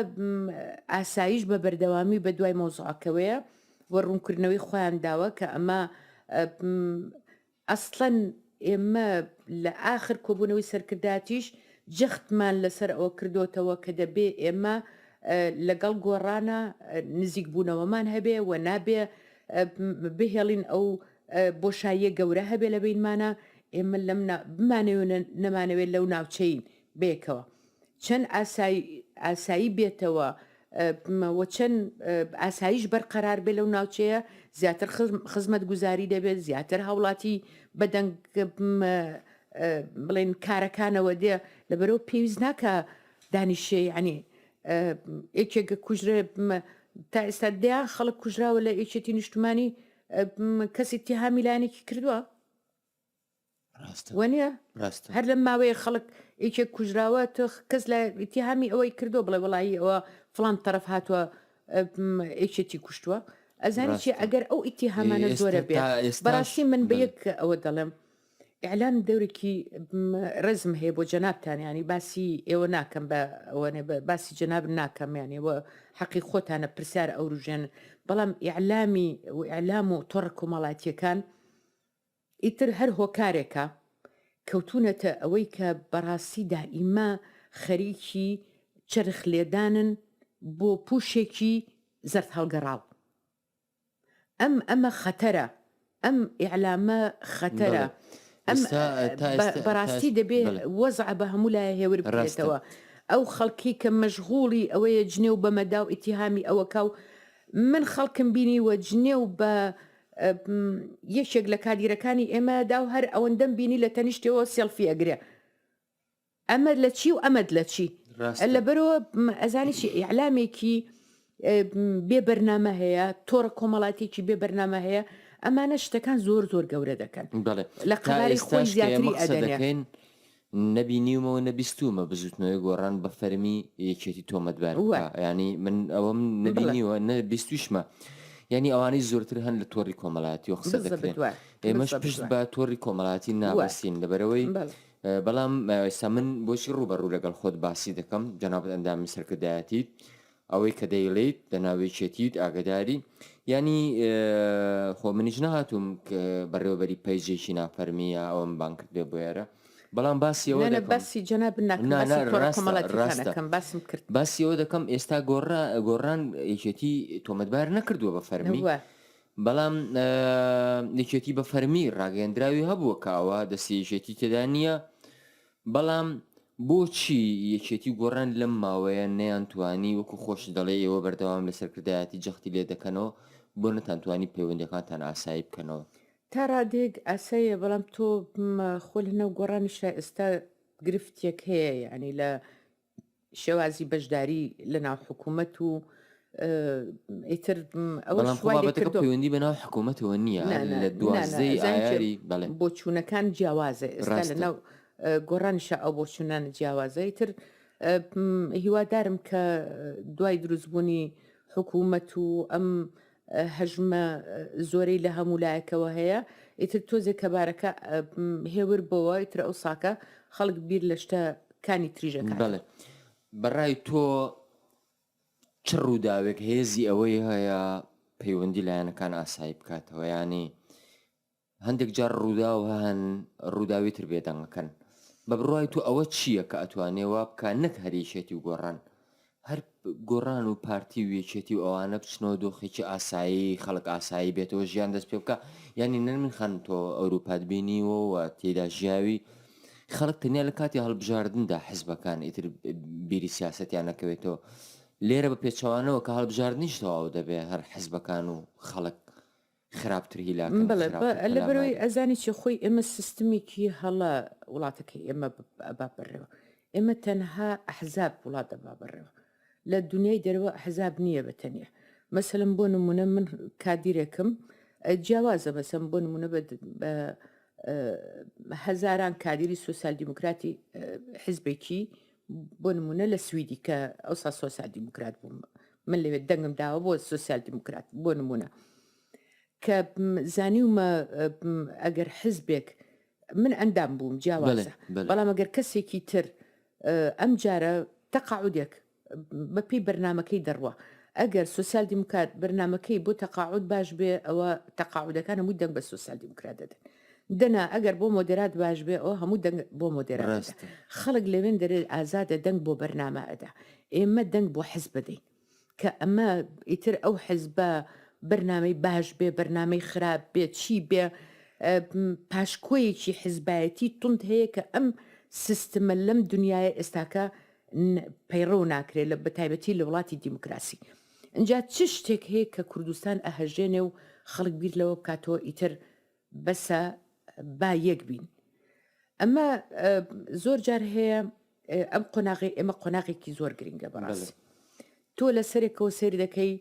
ئاسایش بە بەردەوامی بە دوای مۆزعکەوەیە و ڕوونکردنەوەی خۆیان داوە کە ئەمە ئەسڵەن ئێمە لە ئاخر کۆبوونەوەی سەرکردایەتیش جەختمان لەسەر ئەوە کردۆتەوە کە دەبێ ئێمە لەگەڵ گۆڕانە نزیکبوونەوەمان هەبێ و نابێ بهێڵین ئەو بۆشاییە گەورە هەبێ لە بینمانە ئێمە لەم بمانەوێ نەمانەوێت لەو ناوچەین بەیەکەوە چەند ئاسای ئاسایی بێتەوە م وە چەند ئاسایش بەرقەرار بێ لەو ناوچەیە زیاتر خزمەت گوزاری دەبێت زیاتر هاوڵاتی بەدەنگ م بڵێن کارەکانەوە دێ لە بەرەو پێویست ناکە دانیشێ عنی یەکێک کوژرە م تا ئێستا دیان خەڵک کوژراوە لە یەکێتی نیشتمانی م کەسی تیهامیلانێکی کردووە وەنیە ڕاستە هەر لەم ماوەیە خەڵک یەکێک کوژراوە تۆ کەس لە ئیتیهامی ئەوەی کردو بڵێ وڵی ئەوە فلان تەرەف هاتووە ئەیچێتی کوشتووە ئەزانی چی ئەگەر ئەو ئیتیهامانە زۆرە بێ بەڕاستی من بە یەک ئەوە دەڵێم ئەلان دەورێکی ڕزم هەیە بۆ جەنابتانیانی باسی ئێوە ناکەم بە ئەوەێ باسی جەناب ناکەمیانەوە حەقی خۆتانە پرسیار ئەوروژێن بەڵام ئیعلامی و ئەلام و تۆڕ کۆمەڵاتیەکان ئیتر هەر هۆکارێکە کەوتوونەتە ئەوەی کە بەڕاستی دائیما خەریکی چەرخ لێدانن بۆ پووشێکی زەرد هەڵگەڕاو. ئەم ئەمە خەتەرە، ئەم ئیعلامە خەتەرە. ئەم بەڕاستی دەبێ وەزع بە هەموو لایە هێور بکرێتەوە. ئەو خەڵکی کە مەشغووڵی ئەوەیە جنێو بە مەدا و ئیتیهامی ئەوە کا و من خەڵکم بینیوە جنێو بە یەکێک لە کادیرەکانی ئێمە داو هەر ئەوەندەم بینی لە تەنیشتەوە سێڵفی ئەگرێ ئەمە لە چی و ئەمەد لە چی لە بەرەوە ئەزانی چی ئیعلامێکی بێ بەرنامە هەیە تۆڕە کۆمەڵاتێکی بێ بەرنامە هەیە ئەمانە شتەکان زۆر زۆر گەورە دەکەن لە قەراری خۆی زیاتری ئەدەکەین نە بینیومە و نە بیستوومە بزوتنەوەی گۆڕان بە فەرمی یەکێتی تۆمەت بار بکا یانی من ئەوەم نە بینیوە نە بیستویشمە یانی ئەوانەی زۆرتر هەن لە تۆڕی کۆمەلایەتیەوە قسە دەکرێن ئێمەش پشت بە تۆڕی کۆمەڵاتی ناوەستین لەبەرەوەی بەڵام سە من بۆچی ڕوبەڕوو لەگەڵ خۆت باسی دەکەم جەنابەت ئەندامی سەرکردایەتیت ئەوەی کە دەیڵێیت لە ناو یەکێتیت ئاگەداری یانی خۆ منیش نەهاتووم کە بەڕێوەبەری پەیجێکی نافەرمیە ئەوم بان کردێ بۆێرە بەڵام باسیەوە لە باسی جەنا بنەکەم باسم کرد باسیەوە دەکەم ئێستا گۆڕا گۆڕان یەکێتی تۆمەتبار نەکردووە بە فەرمی بەڵام نکێتی بە فەرمی ڕاگەندراوی هەبووە کاوە دەستێژێتی تێدا نییە بەڵام بۆچی یەکێتی و گۆڕان لەم ماوەیە نەیانتوانی وەکو خۆشت دەڵێی ئێوە بەردەوام لە سەرکردایەتی جەختی لێ دەکەنەوە بۆ نەتانتوانی پەیوەندیەکانتان ئاسایی بکەنەوە؟ تا ڕادەیەک ئاساییە بەڵام تۆ خۆ لەناو گۆڕانیشا ئێستا گرفتێک هەیە یانی لە شێوازی بەشداری لە ناو حکوومەت و ئیتر ئەوەڵام خۆبابەتەکە پەیوەندی بە ناو حکوومەتەوە نییە لە دوازدەی ئایاری بەڵێ بۆچوونەکان جیاوازە ئێستا لە ناو گۆڕانشە ئەو بۆچوونانە جیاوازەی تر هیوادارم کە دوای دروستبوونی حکوومەت و ئەم هەژمە زۆرەی لە هەموو لایەکەوە هەیە ئیتر تۆزێک کە بارەکە هێور بۆەوە ئیتر ئەو ساکە خەڵک بیر لە شتە کانی تریژەکە بڵێ بەڕای تۆ چ ڕووداوێک هێزی ئەوەی هەیە پەیوەندی لایەنەکان ئاسایی بکاتەوە ینی هەندێک جار ڕووداو هەن ڕووداوی تر بێدەنگەکەن. بە بڕوای تۆ ئەوە چییە کە ئەتوانێ وا بکا نەک هەر یەکێتی و گۆڕان، هەر گۆڕان و پارتی و یەکێتی و ئەوانە بچنەوە دۆخێکی ئاسایی، خەڵک ئاسایی بێتەوە ژیان دەست پێ بکا؟ یانی نەرمین خان تۆ ئەورووپات بینیوە و تێیدا ژیاوی، خەڵک تەنیا لە کاتی هەڵبژاردندا حزبەکان ئیتر بیری سیاسەتیان نەکەوێتەوە، لێرە بە پێچەوانەوە کە هەڵبژاردنیش تەواو دەبێ هەر حزبەکان و خەڵک، خراپتر هیلاکن بەڵێ بە خراپتر لە بەرەوەی پەلاماری ئەزانی چی خۆی ئێمە سیستمیکی هەڵە وڵاتەکەی ئێمە ب- ئەبا بەڕێوە ئێمە تەنها ئەحزاب وڵات دەبا بەڕێوە لە دنیای دەرەوە ئەحزاب نییە بە تەنیا مەسەلەن بۆ نمونە من کادیرێکم ئە، جیاوازە مەسەن بۆ نمونە بە, د- بە ئە، هەزاران کادیری سوسیال دیموکراتی ئە، حزبێکی بۆ نمونە لە سویدی کە ئەوسا سۆسیال دیموکرات بووم من لەوێت دەنگم داوە بۆ سوسیال دیموکرات بۆ نمونە کە زانیومە ئەگەر حزبێک من ئەندام بووم جیاوازە بەڵام ئەگەر کەسێکی تر ئەم جارە تەقاعودێک بەپی بەرنمەکەی دەڕوە ئەگەر سوسیال دیموکات بەرنمەکەی بۆ تەقاعود باش بێ ئەوە تەقاعودەکان هەمووی دەنگ بە سوسیال دیموکرات دەدەن دەنا ئەگەر بۆ مۆدێرات باش بێ ئەوە هەموو دەنگ بۆ مۆدێرات ئەدا. ڕاستە خەڵک لەوێن دەرێ ئازادە دەنگ بۆ بەرنامە ئەدا. ئێمە دەنگ بۆ حزب ئەدەین. کە ئەمە ئیتر ئەو حزبە بەرنامەی باش بێ، بەرنامەی خراپ بێ، چی بێ ئە، م، پاشکۆیەکی حزبایەتی توند هەیە کە ئەم سیستمە لەم دنیایە ئێستاکە ن، پەیڕەو ناکرێ لە بە تایبەتی لە وڵاتی دیموکراسی. ئینجا چ شتێک هەیە کە کوردستان ئەهەژێنێ و خەڵک بیر لەوە بکاتەوە ئیتر بەسە با یەک بین ئەمە زۆر جار هەیە ئەم قۆناغی ئێمە قۆناغێکی زۆر گرنگە بەڕاست تۆ لە سەرێکەوە سەیر دەکەی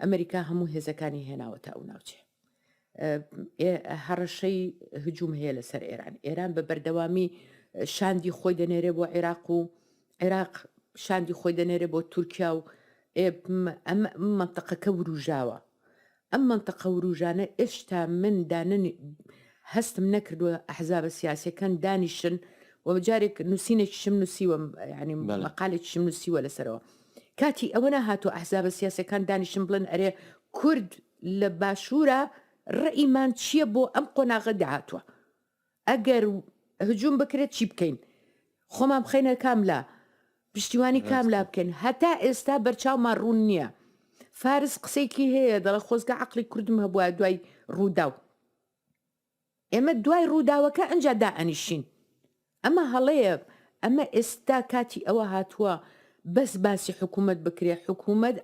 ئەمریکا هەموو هێزەکانی هێناوە تا ئەو ناوچێ هەڕەشەی هجووم هەیە لەسەر ئێران ئێران بە بەردەوامی شاندی خۆی دەنێرێ بۆ عێراق و عێراق شاندی خۆی دەنێرێ بۆ تورکیا و ئەم منتەقەکە وروژاوە ئەم مەنتقە ورووژانە ئێشتا من دانن هەستم نەکردووە ئەحزابە سیاسیەکان دانیشن و جارێک نووسینێکیشم نووسیوە ینی مەقالێکیشم نووسیوە لەسەرەوە کاتی ئەوە نەهاتوو ئەحزابە سیاسەکان دانیشن بڵێن ئەرێ کورد لە باشوورە ڕئیمان چییە بۆ ئەم قۆناغە داهاتوە ئەگەر هجوم بکرێت چی بکەین خۆمان بخەینە کام لا پشتیوانی کام لا بکەین هەتا ئێستا بەرچاومان ڕوون نییە فارس قسەیەکی هەیە دەڵە خۆزگە عقلی کوردم هەبووە دوای ڕووداو ئێمە دوای ڕووداوەکە ئەجا دا ئەنیشین ئەمە هەڵەیە ئەمە ئێستا کاتی ئەوە هاتووە بەس باسی حکوومەت بکرێ حکوومەت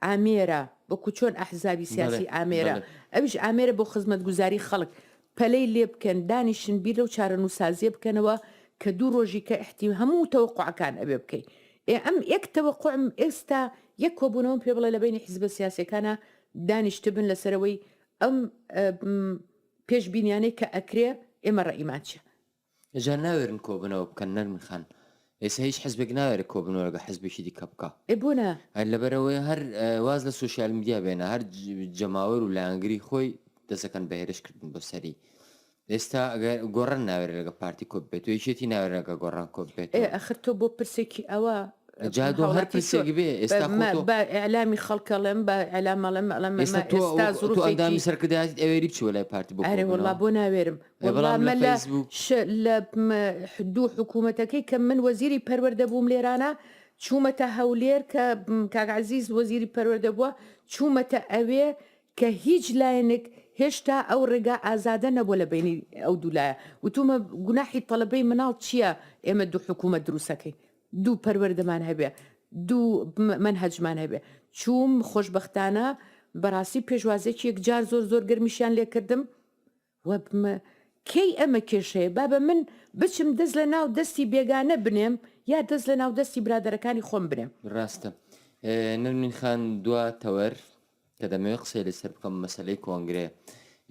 ئامێرە وەکو چۆن ئەحزابی سیاسی ئامێرە ئەوش ئامێرە بۆ خزمەت گوزاری خەڵک پەلەی لێ بکەن دانیشن بیر لەو چارەنوسازیە بکەنەوە کە دوو رۆژی کە ئحتی هەموو تەوەقوعەکان ئەبێ بکەی ئێ ئەم ئێک تەوەقوعم ئێستا یەک کۆبونەوەم پێ بڵێ لە بەینی حیزبە سیاسیەکانا دانیشتبن لەسەر ئەوەی ئەم پێش بینیانەی کە ئەکرێ ئێمە ڕەئیمان چیە جا ناوێرن کۆبنەوە بکەن نەرمین خان ئێسا هیچ حزبێک ناوێرە کۆبنەوە لەگە حزبێکی دیکە بکا ئێ بۆ نا؟ هەر لەبەرەوەی هەر واز لە سوسیال میدیا بێنە هەر جەماوەر و لایەنگری خۆی دەسەکەن بە هێرش کردن بۆ سەری ئێستا ئەگەر گۆڕن ناوێت لەگە پارتی کۆپ بێت یەکێتی ناوێنەکە گۆڕان کۆپ بێت ئەخر تۆ بۆ پرسێکی ئەوە جادۆ هەر پرسێک بێ ئێستا بە ئەلامی خەڵکەڵێم بە ئەلامەڵێم ئەڵم ئێستا ئەندامی سەرکردایت ئەوێری بچوە لای پارتی بۆ ئەرێ وڵا بۆ ناوێرم وەڵا مە لە ش لە دوو حکوومەتەکەی کە من وەزیری پەروەەردە بووم لێرانە چوومەتە هەولێر کە کاگعزیز وەزیری پەروەەردە بووە چوومەتە ئەوێ کە هیچ لایەنێک هێشتا ئەو ڕێگا ئازادە نەبووە لە بینی ئەو دوولایە وتومە گوناحی تەلبەی مناڵ چییە ئێمە دوو حکوومە دروستەکەی دوو پەروەردەمان هەبێ دوو من هەجمان هەبێ چووم خۆشببختانە بەڕاستی پێشوازێکی یەکجار زۆر زۆر گرمیشیان لێکردم وەبمە کەی ئەمە کێشەیە بابە من بچم دەست لە ناو دەستی بێگانە بنێم یا دەست لە ناو دەستی برادەرەکانی خۆم بنێم. ڕاستە نەرمین خان دوا تەوەر کە دەمەوێت قسەی لەسەر بکەم مەسلەی کۆنگرێ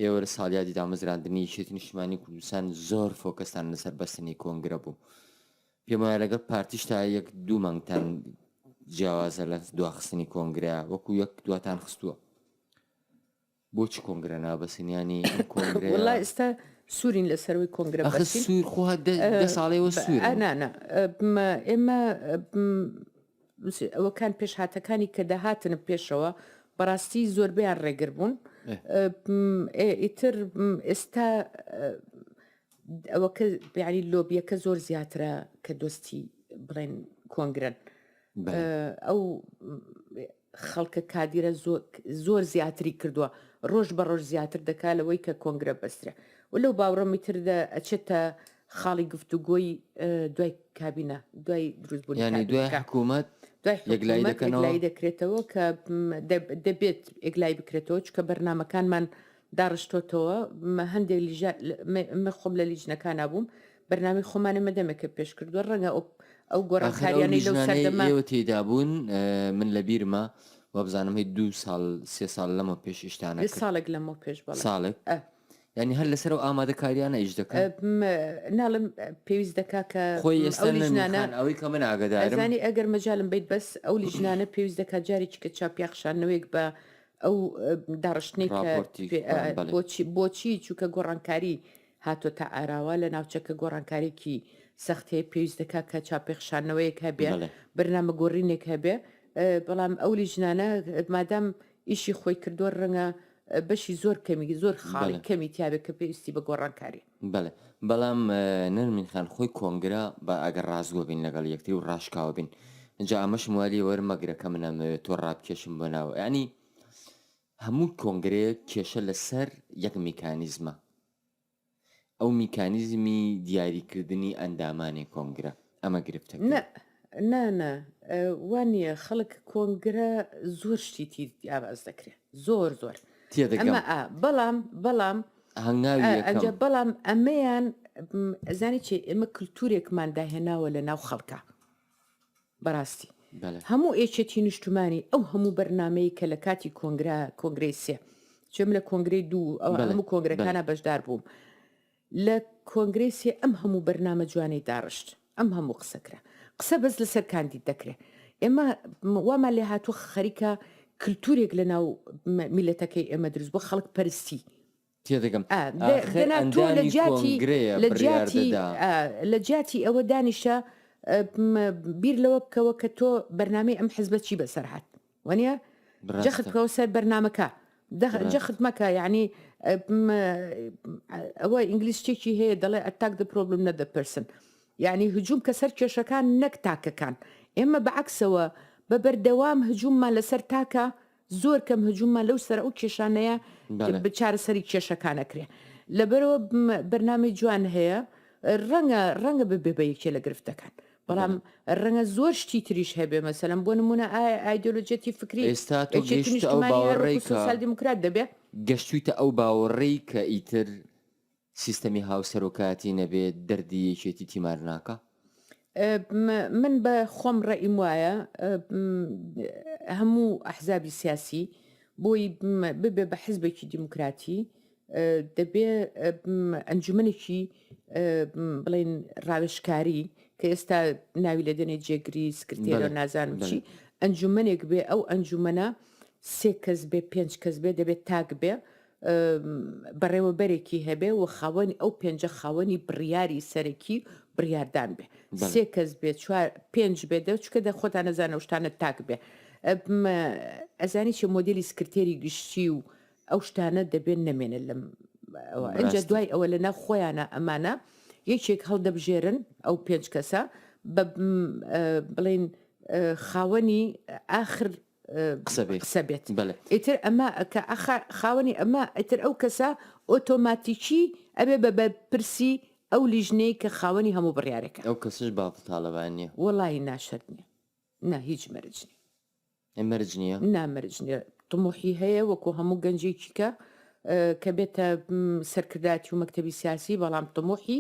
ئێوە لە ساڵیادی دامەزراندنی یەکێتی نیشتمانی کوردستان زۆر فۆکەستان لەسەر بەستنی کۆنگرە بوو پێم وایە لەگەڵ پارتیش تا یەک دوو مانگتان جیاوازە لە دواخستنی کۆنگرە وەکو یەک دواتان خستووە بۆ چ کۆنگرە نابەسن یانی ئەم کۆنگرەیە واللە ئێستا سوورین لەسەرووی کۆنگرە ئەخە بەسین سوور خۆ هەر دە دە ساڵەیەوە ب- سوورن ئا، نا نا م- ئێمە م- س- ئەوەکان پێشهاتەکانی کە دەهاتن پێشەوە بەڕاستی زۆربەیان ڕێگر بوون ئێ. ئە، م- ئێ، ئیتر م- ئێستا ئە، ئەوەکە یانی لۆبیەکە زۆر زیاترە کە دۆستی بڵێن کۆنگرەن بەێ. ئە، ئەو م- خەڵکە کادیرە زۆر زیاتری کردوە ڕۆژ بە ڕۆژ زیاتر دەکا لەوەی کە کۆنگرە بەسترێ و لەو باوڕەمی تر دە ئەچێتە خاڵی گفتوگۆی دوای کابینە دوای دروست بوون یعنی دوای حکوومەت یەکلایی دەکرێتەوە کە دەبێت ئێگلای بکرێتەوە چکە بەرنمەکانمان داڕشتۆتەوە مە هەندێک لیژە مە خۆم لە لیژنەکانا بووم بەرنامەی خۆمانە مەدەمێکە پێش کردووە ڕەنگە ئەو ئەو گۆڕانکاریانەی لەو سەردەمە ئێوە تێدا بوون من لە بیرمە وابزانم هەی دو ساڵ سێ ساڵ لەمە پێش ئیشتانە ساڵێک لەمە پێش بە ساڵێک ینی هەر لەسەر و ئامادەکاریانە ئیش دەکەن ناڵم پێویست دەکا کە خۆی ئێستانە ئەوەی کە من ئاگدارزانانی ئەگەر مەجالم بیت بەس ئەو لیژنانە پێویست دەکات جارێکی کە چاپیاخشانەوەیەک بە ئەو داڕشتنەی کە بۆچی بۆچی چووکە گۆڕانکاری هاتۆ تا ئاراوە لە ناوچەکە گۆڕانکارێکی سەخت هەیە پێویست دەکات کە چاپێخشانەوەیەک هەبێ بەرنامە گۆڕینێک هەبێ بەڵام ئەو لیژنانە مادام ئیشی خۆی کردووە ڕەنگە بەشی زۆر کەمی زۆر خاڵی کەمی تیاێک کە پێویستی بە گۆڕانکاری بەڵێ، بەڵام نەرمین خان خۆی کۆنگرە با ئەگەر ڕاستگۆ بین لەگەڵ یەکتری و ڕاشکاوە بین. جا ئەمەشم وا لێ وەرمەگرە کە من ئەمەوێ تۆ ڕابکێشم بۆ ناوە. یانی هەموو کۆنگرەیەک کێشە لەسەر یەک میکانیزمە. ئەو میکانیزمی دیاریکردنی ئەندامانی کۆنگرە. ئەمە گرفتە نە نا نا وا نییە خەڵک کۆنگرە زۆر شتی تیر یاواز دەکرێت زۆر زۆر تێدەگەمە بەڵام بەڵام ئەنج بەڵام ئەمەیان ئەزانی چێ ئێمە کللتورێکمان داهێناوە لە ناو خەڵکە بەڕاستی هەموو ئێچێتی نیشتمانی ئەو هەموو بەرنمەیە کە لە کاتی کۆنگرا کۆنگرەی سێ چێم لە کۆنگری دوو ئەو هەموو کۆنگرەکانە بەشدار بووم لە کۆنگرەی سێ ئەم هەموو بەرنامە جوانەی داڕشت ئەم هەموو قسە کرا قسە بەس لەسەر کاندید دەکرێ ئێمە وامان لێ هاتوو خەریکە کللتورێک لە ناو میلەتەکەی ئێمە دروست بۆ خەڵک پەرستی تێدەگەم لە جیاتی ئەوە دانیشە بیر لەوە بکەوە کە تۆ بەرنمەی ئەم حزبە چی بەسەر هاات وانیە جەخت بکەوە سەر بەرنامەکە جەخت مەکە یعنی ئەوە ئینگلیس شتێکی هەیە دەڵێ ئەتاک دە پرۆبلم نە دەپرسن یعنی هجووم کە سەر کێشەکان نەک تاکەکان ئێمە بەعکسەوە بە بەردەوام هجووممان لەسەر تاکە زۆر کەم هجوومە لەو سەر ئەو کێشانەیە بچارە سەری کێشەکانەکرێ لەبەرەوە بەرنامی جوان هەیە ڕەنگە ڕەنگە ببێ بە یەکێ لە گرفتەکان بەڵام ڕەنگە زۆر شتی تریش هەبێ مەسەلەن بۆ نمونە ئایا ئایدۆلۆجیەتی فکری ئێستا تۆ یەکێتی گەیشتە ئەو نیشتمانی هەر باوەڕەی وەکو کە سۆسیال دیموکرات دەبێ؟ گەشتویتە ئەو باوەڕەی کە ئیتر سیستەمی هاوسەرۆکایەتی نەبێ دەردی یەکێتی تیمار ناکا؟ م من بە خۆم ڕەئیم وایە م هەموو ئەحزابی سیاسی بۆی م ببێ بە حزبێکی دیموکراتی دەبێ ئەنجومەنێکی بڵین ڕاوێشکاری کە ئێستا ناوی لە دەنێ جێگری سکرتێرە نازانم چی ئەنجومەنێک بێ ئەو ئەنجومەنە سێ کەس بێ پێنج کەس بێ دەبێت تاک بێ بەڕێوەبەرێکی هەبێ و خاوەنی ئەو پێنجە خاوەنی بڕیاری سەرەکی بڕیاردان بێ سێ کەس بێ چوار پێنج بێ دە چکە دە خۆتان نەزانە شتانە تاک بێ ئەزانی چێ مۆدلی سکرتێری گشتی و ئەو شتانە دەبێت نەمێنن لەم ئەوە ئەجا بەراستی دوای ئەوە لە ناو خۆیانە ئەمانە یەکێک هەڵدەبژێرن ئەو پێنج کەسە بە م، ئە، بڵێن ئە، خاوەنی ئاخر ئە، قسە بێ قسە بێت بەلێ ئیتر ئەمە کە ئەخا خاوەنی ئەمە ئیتر ئەو کەسە ئۆتۆماتیکی ئەبێ بە بەرپرسی ئەو لیژنەی کە خاوەنی هەموو بڕیارێکە ئەو کەسش بافڵ تاڵەبانی نیە. وەڵایی نا شەرت نیە نا هیچ مەرج نیە. ئەی مەرج نییە؟ نا مەرج نییە، طموحی هەیە وەکو هەموو گەنجێکی کە کە بێتە سەرکردایەتی و مەکتەبی سیاسی بەڵام طموحی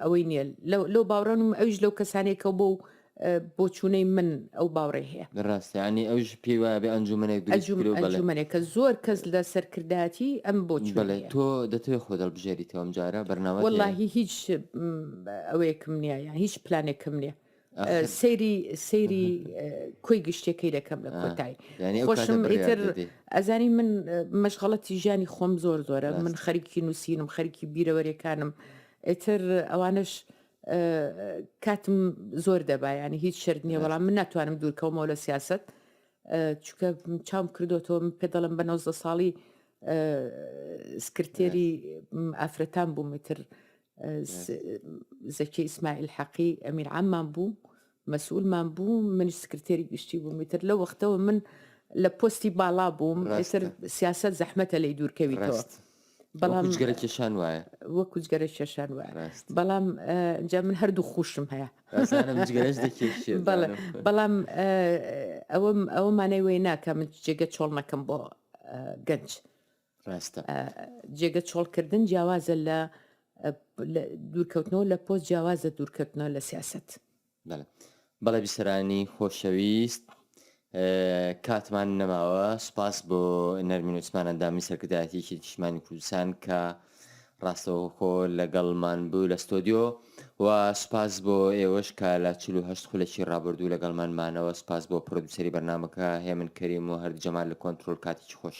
ئەوەی نییە لەو باوڕەنم ئەوش لەو کەسانێکە بۆ و بۆچوونەی من ئەو باوڕێ هەیە ڕاستیانی ئەوش پێی وایە بێ ئەنجومەنێک ئەنجومەنێکە زۆر کەس لە سەرکردایەتی ئەم بۆ تۆ دەتوێت خۆ دەڵبژێریتەوەم جارە بەرناوە واللهی هیچ ئەوەیەکم نییە یان هیچ پلانێکم نییە سەیری سەیری کۆی گشتەکەی دەکەم لە کۆتای خۆشم ئیتر ئەزانی من مەشغڵەتی ژیانی خۆم زۆر زۆرە من خەریکی نووسینم خەریکی بیرەوەریەکانم ئیتر ئەوانش کاتم زۆر دەبایانی هیچ شرد نییە بەڵام من ناتوانم دوورکەومەوە لە سیاست چکە چاوم کردوەوە پێ دەڵم بە 90 ساڵی سکرتێری ئافرەتان بوومتر زەکی ئیسماعیل حەقی ئەمیر عەممان بوو مەسئولمان بوو منی سکرتێری گشتی بووم تر لە وەختەوە من لە پۆستی باڵا بووم ئێسر سیاست زەحمەتە لی دوورکەویتەوە بەڵام جگەرە کێشان وایە وەکو جگەرە کێشان وایە بەڵام جا من هەردوو خوشم هەیە بەڵام ئەوەم ئەوە مانای وی ناکە من جێگە چۆڵ نەکەم بۆ گەنج ڕاستە. جێگە چۆڵ کردن جیاوازە لە دوورکەوتنەوە لە پۆست جیاوازە دوورکەوتنەوە لە سیاست. بەڵێ بیسەرانی خۆشەویست کاتمان نەماوە سوپاس بۆ نەرمین وسمان ئەندامی سەرکردایەتیکی نیشتمانی کوردستان کە ڕاستەوخۆ لەگەڵمان بوو لە ستۆدیۆ و سوپاس بۆ ئێوەش کە لە چل و هەشت خولەکی ڕابردوو لەگەڵمان مانەوە سوپاس بۆ پرۆدوسەری بەرنامەکە هێمن کەریم و هەرد جەمال لە کۆنترۆل کاتێکی خۆش.